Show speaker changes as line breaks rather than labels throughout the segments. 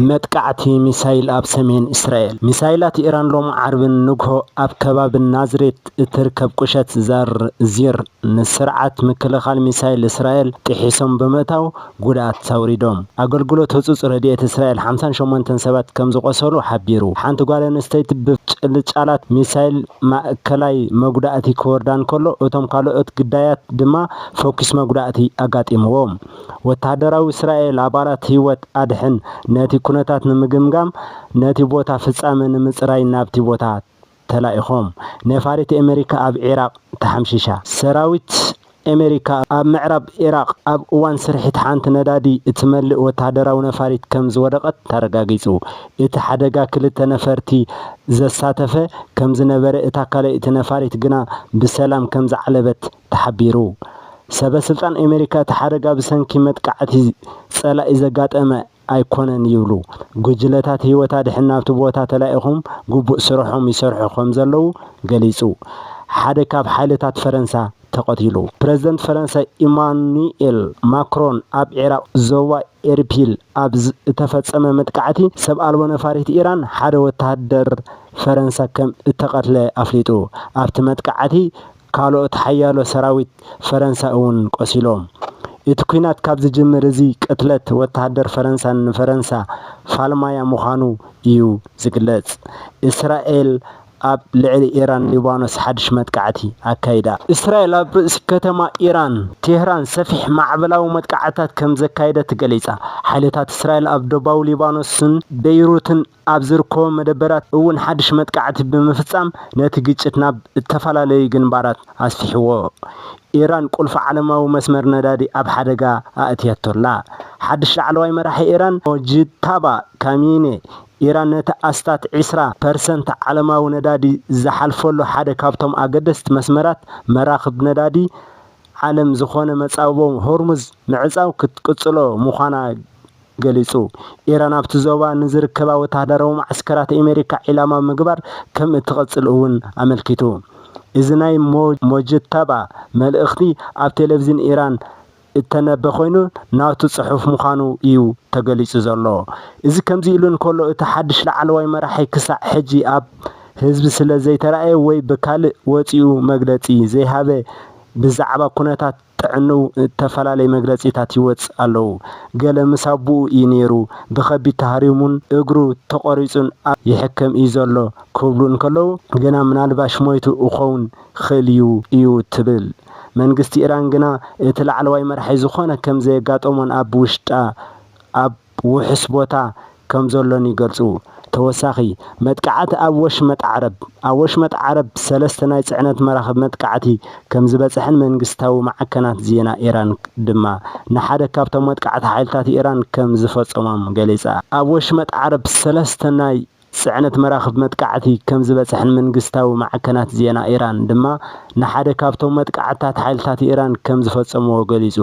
መጥቃዕቲ ሚሳይል ኣብ ሰሜን እስራኤል። ሚሳይላት ኢራን ሎሚ ዓርቢ ንግሆ ኣብ ከባቢ ናዝሬት እትርከብ ቁሸት ዛር ዚር ንስርዓት ምክልኻል ሚሳይል እስራኤል ጥሒሶም ብምእታው ጉድኣት ኣውሪዶም። ኣገልግሎት ህጹጽ ረድኤት እስራኤል ሓምሳን ሸሞንተን ሰባት ከም ዝቖሰሉ ሓቢሩ። ሓንቲ ጓል ኣንስተይቲ ብፍንጭልጫላት ሚሳይል ማእከላይ መጉዳእቲ ክወርዳ እንከሎ፣ እቶም ካልኦት ግዳያት ድማ ፈኲስ መጉዳእቲ ኣጋጢምዎም። ወተሃደራዊ እስራኤል ኣባላት ህይወት ኣድሕን ነቲ ኩነታት ንምግምጋም ነቲ ቦታ ፍጻመ ንምጽራይ ናብቲ ቦታ ተላኢኾም። ነፋሪት ኣመሪካ ኣብ ዒራቕ ተሓምሺሻ። ሰራዊት ኣመሪካ ኣብ ምዕራብ ዒራቕ ኣብ እዋን ስርሒት ሓንቲ ነዳዲ እትመልእ ወተሃደራዊ ነፋሪት ከም ዝወደቐት ተረጋጊጹ። እቲ ሓደጋ ክልተ ነፈርቲ ዘሳተፈ ከም ዝነበረ እታ ካልኣይቲ ነፋሪት ግና ብሰላም ከም ዝዓለበት ተሓቢሩ። ሰበ ስልጣን ኣሜሪካ እቲ ሓደጋ ብሰንኪ መጥቃዕቲ ፀላኢ ዘጋጠመ ኣይኮነን ይብሉ። ጉጅለታት ህይወት ኣድሕን ናብቲ ቦታ ተላኢኾም ግቡእ ስርሖም ይሰርሑ ከምዘለዉ ገሊፁ። ሓደ ካብ ሓይልታት ፈረንሳ ተቐቲሉ። ፕረዚደንት ፈረንሳ ኢማኑኤል ማክሮን ኣብ ዒራቕ ዞባ ኤርፒል ኣብ ዝተፈፀመ መጥቃዕቲ ሰብ ኣልቦ ነፋሪት ኢራን ሓደ ወተሃደር ፈረንሳ ከም እተቐትለ ኣፍሊጡ። ኣብቲ መጥቃዕቲ ካልኦት ሓያሎ ሰራዊት ፈረንሳ እውን ቆሲሎም። እቲ ኲናት ካብ ዝጅምር እዚ ቅትለት ወተሃደር ፈረንሳን ንፈረንሳ ፋልማያ ምዃኑ እዩ ዝግለጽ። እስራኤል ኣብ ልዕሊ ኢራን ሊባኖስ ሓድሽ መጥቃዕቲ ኣካይዳ። እስራኤል ኣብ ርእሲ ከተማ ኢራን ቴህራን ሰፊሕ ማዕበላዊ መጥቃዕትታት ከም ዘካየደት ገሊጻ። ሓይልታት እስራኤል ኣብ ዶባዊ ሊባኖስን በይሩትን ኣብ ዝርከቦም መደበራት እውን ሓድሽ መጥቃዕቲ ብምፍጻም ነቲ ግጭት ናብ እተፈላለዩ ግንባራት ኣስፊሕዎ። ኢራን ቁልፊ ዓለማዊ መስመር ነዳዲ ኣብ ሓደጋ ኣእትያቶ ኣላ። ሓድሽ ላዕለዋይ መራሒ ኢራን ሞጅታባ ካሚኔ፣ ኢራን ነቲ ኣስታት ዕስራ ፐርሰንት ዓለማዊ ነዳዲ ዝሓልፈሉ ሓደ ካብቶም ኣገደስቲ መስመራት መራኽብ ነዳዲ ዓለም ዝዀነ መጻብቦ ሆርሙዝ ምዕጻው ክትቅጽሎ ምዃና ገሊጹ። ኢራን ኣብቲ ዞባ ንዝርከባ ወተሃደራዊ መዓስከራት ኤመሪካ ዒላማ ምግባር ከም እትቐጽል እውን ኣመልኪቱ። እዚ ናይ ሞጅተባ መልእኽቲ ኣብ ቴለቭዝን ኢራን እተነበ ኮይኑ ናቱ ጽሑፍ ምዃኑ እዩ ተገሊጹ ዘሎ። እዚ ከምዚ ኢሉ እንከሎ እቲ ሓድሽ ላዕለዋይ መራሒ ክሳዕ ሕጂ ኣብ ህዝቢ ስለ ዘይተራእየ ወይ ብካልእ ወጺኡ መግለጺ ዘይሃበ ብዛዕባ ኩነታት ጥዕንኡ እተፈላለየ መግለጺታት ይወጽእ ኣለዉ። ገለ ምስ ኣቦኡ እዩ ነይሩ፣ ብኸቢድ ተሃሪሙን እግሩ ተቖሪጹን ኣብ ይሕከም እዩ ዘሎ ክብሉ እንከለዉ ግና ምናልባሽ ሞይቱ እኸውን ይኽእል እዩ እዩ ትብል። መንግስቲ ኢራን ግና እቲ ላዕለዋይ መራሒ ዝኾነ ከም ዘየጋጠሞን ኣብ ውሽጣ ኣብ። ውሑስ ቦታ ከም ዘሎን ይገልጹ። ተወሳኺ መጥቃዕቲ ኣብ ወሽመጥ ዓረብ፣ ኣብ ወሽመጥ ዓረብ ሰለስተ ናይ ጽዕነት መራኽብ መጥቃዕቲ ከም ዝበጽሐን መንግስታዊ ማዕከናት ዜና ኢራን ድማ ንሓደ ካብቶም መጥቃዕቲ ሓይልታት ኢራን ከም ዝፈጸሞም ገሊጻ። ኣብ ወሽመጥ ዓረብ ሰለስተ ናይ። ጽዕነት መራኽብ መጥቃዕቲ ከም ዝበጽሐን መንግስታዊ ማዕከናት ዜና ኢራን ድማ ንሓደ ካብቶም መጥቃዕትታት ሓይልታት ኢራን ከም ዝፈጸምዎ ገሊጹ።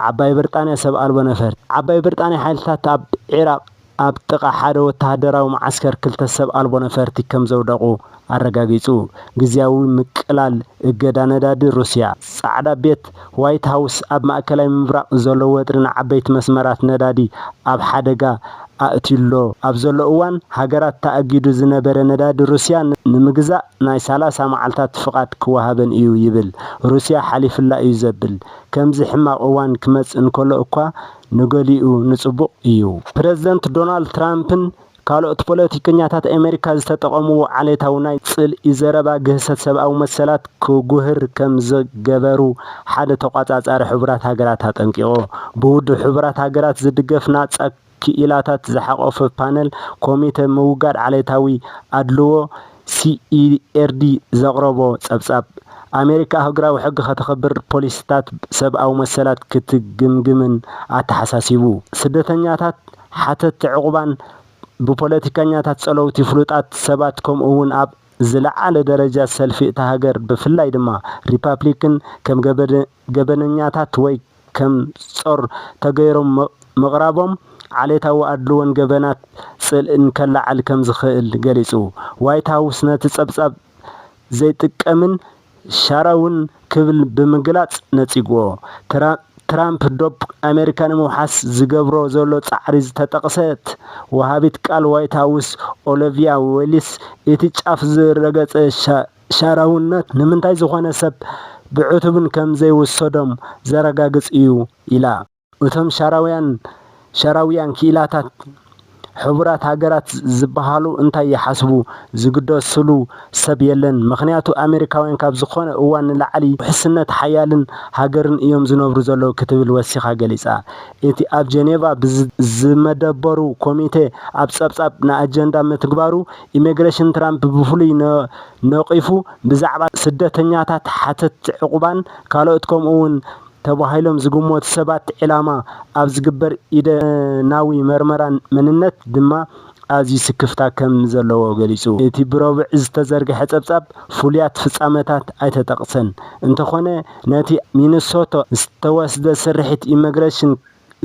ዓባይ ብርጣንያ ሰብ ኣልቦ ነፈርቲ። ዓባይ ብርጣንያ ሓይልታት ኣብ ዒራቕ ኣብ ጥቓ ሓደ ወተሃደራዊ መዓስከር ክልተ ሰብ ኣልቦ ነፈርቲ ከም ዘውደቑ ኣረጋጊጹ። ግዝያዊ ምቅላል እገዳ ነዳዲ ሩስያ። ጻዕዳ ቤት፣ ዋይት ሃውስ፣ ኣብ ማእከላይ ምብራቕ ዘሎ ወጥሪ ንዓበይቲ መስመራት ነዳዲ ኣብ ሓደጋ ኣእትዩ'ሎ ኣብ ዘሎ እዋን፣ ሃገራት ተኣጊዱ ዝነበረ ነዳዲ ሩስያ ንምግዛእ ናይ ሰላሳ መዓልታት ፍቓድ ክወሃበን እዩ ይብል። ሩስያ ሓሊፉላ እዩ ዘብል ከምዚ ሕማቕ እዋን ክመጽእ እንከሎ እኳ ንገሊኡ ንጽቡቕ እዩ። ፕረዚደንት ዶናልድ ትራምፕን ካልኦት ፖለቲከኛታት ኣመሪካ ዝተጠቐምዎ ዓሌታዊ ናይ ጽልኢ ዘረባ ግህሰት ሰብኣዊ መሰላት ክጉህር ከም ዝገበሩ ሓደ ተቖጻጻሪ ሕቡራት ሃገራት ኣጠንቂቑ። ብውድብ ሕቡራት ሃገራት ዝድገፍ ናጻ ክኢላታት ዝሓቖፈ ፓነል ኮሚተ ምውጋድ ዓሌታዊ ኣድልዎ ሲኢኤርዲ ዘቕረቦ ጸብጻብ፣ ኣመሪካ ኣህጉራዊ ሕጊ ከተኽብር፣ ፖሊሲታት ሰብኣዊ መሰላት ክትግምግምን ኣተሓሳሲቡ። ስደተኛታት፣ ሓተትቲ ዕቝባን ብፖለቲከኛታት ጸለውቲ ፍሉጣት ሰባት ከምኡ'ውን ኣብ ዝለዓለ ደረጃ ሰልፊ እታ ሃገር ብፍላይ ድማ ሪፓፕሊክን ከም ገበን ገበነኛታት ወይ ከም ጾር ተገይሮም ምቕራቦም ዓሌታዊ ኣድልዎን ገበናት ጽልእን ከለዓዕል ከም ዝኽእል ገሊጹ። ዋይት ሃውስ ነቲ ጸብጻብ ዘይጥቀምን ሻራውን ክብል ብምግላጽ ነጺግዎ። ትራምፕ ዶብ ኣመሪካ ንምውሓስ ዝገብሮ ዘሎ ጻዕሪ ዝተጠቕሰት ወሃቢት ቃል ዋይት ሃውስ ኦለቪያ ዌልስ እቲ ጫፍ ዝረገጸ ሻራውነት ንምንታይ ዝኾነ ሰብ ብዕቱብን ከም ዘይውሰዶም ዘረጋግጽ እዩ ኢላ። እቶም ሻራውያን፣ ሻራውያን ክኢላታት ሕቡራት ሃገራት ዝበሃሉ እንታይ ይሓስቡ ዝግደስሉ ሰብ የለን፣ ምኽንያቱ ኣመሪካውያን ካብ ዝኾነ እዋን ንላዕሊ ኣብ ውሕስነት ሓያልን ሃገርን እዮም ዝነብሩ ዘለዉ ክትብል ወሲኻ ገሊጻ። እቲ ኣብ ጀኔቫ ዝመደበሩ ኮሚቴ ኣብ ጸብጻብ ንኣጀንዳ ምትግባሩ፣ ኢሚግሬሽን ትራምፕ ብፍሉይ ነቒፉ፣ ብዛዕባ ስደተኛታት፣ ሓተትቲ ዕቝባን ካልኦት ከምኡ'ውን ተባሂሎም ዝግመቱ ሰባት ዒላማ ኣብ ዝግበር ኢደናዊ መርመራ መንነት ድማ ኣዝዩ ስክፍታ ከም ዘለዎ ገሊጹ። እቲ ብረቡዕ ዝተዘርግሐ ጸብጻብ ፍሉያት ፍጻመታት ኣይተጠቕሰን፣ እንተዀነ ነቲ ሚነሶታ ዝተወስደ ስርሒት ኢሚግሬሽን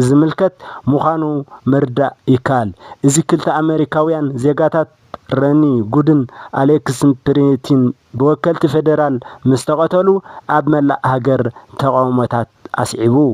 ዝምልከት ምዃኑ ምርዳእ ይከኣል። እዚ ክልተ ኣመሪካውያን ዜጋታት ረኒ ጉድን ኣሌክስ ፕሪቲን ብወከልቲ ፌደራል ምስ ተቐተሉ ኣብ መላእ ሃገር ተቓውሞታት ኣስዒቡ።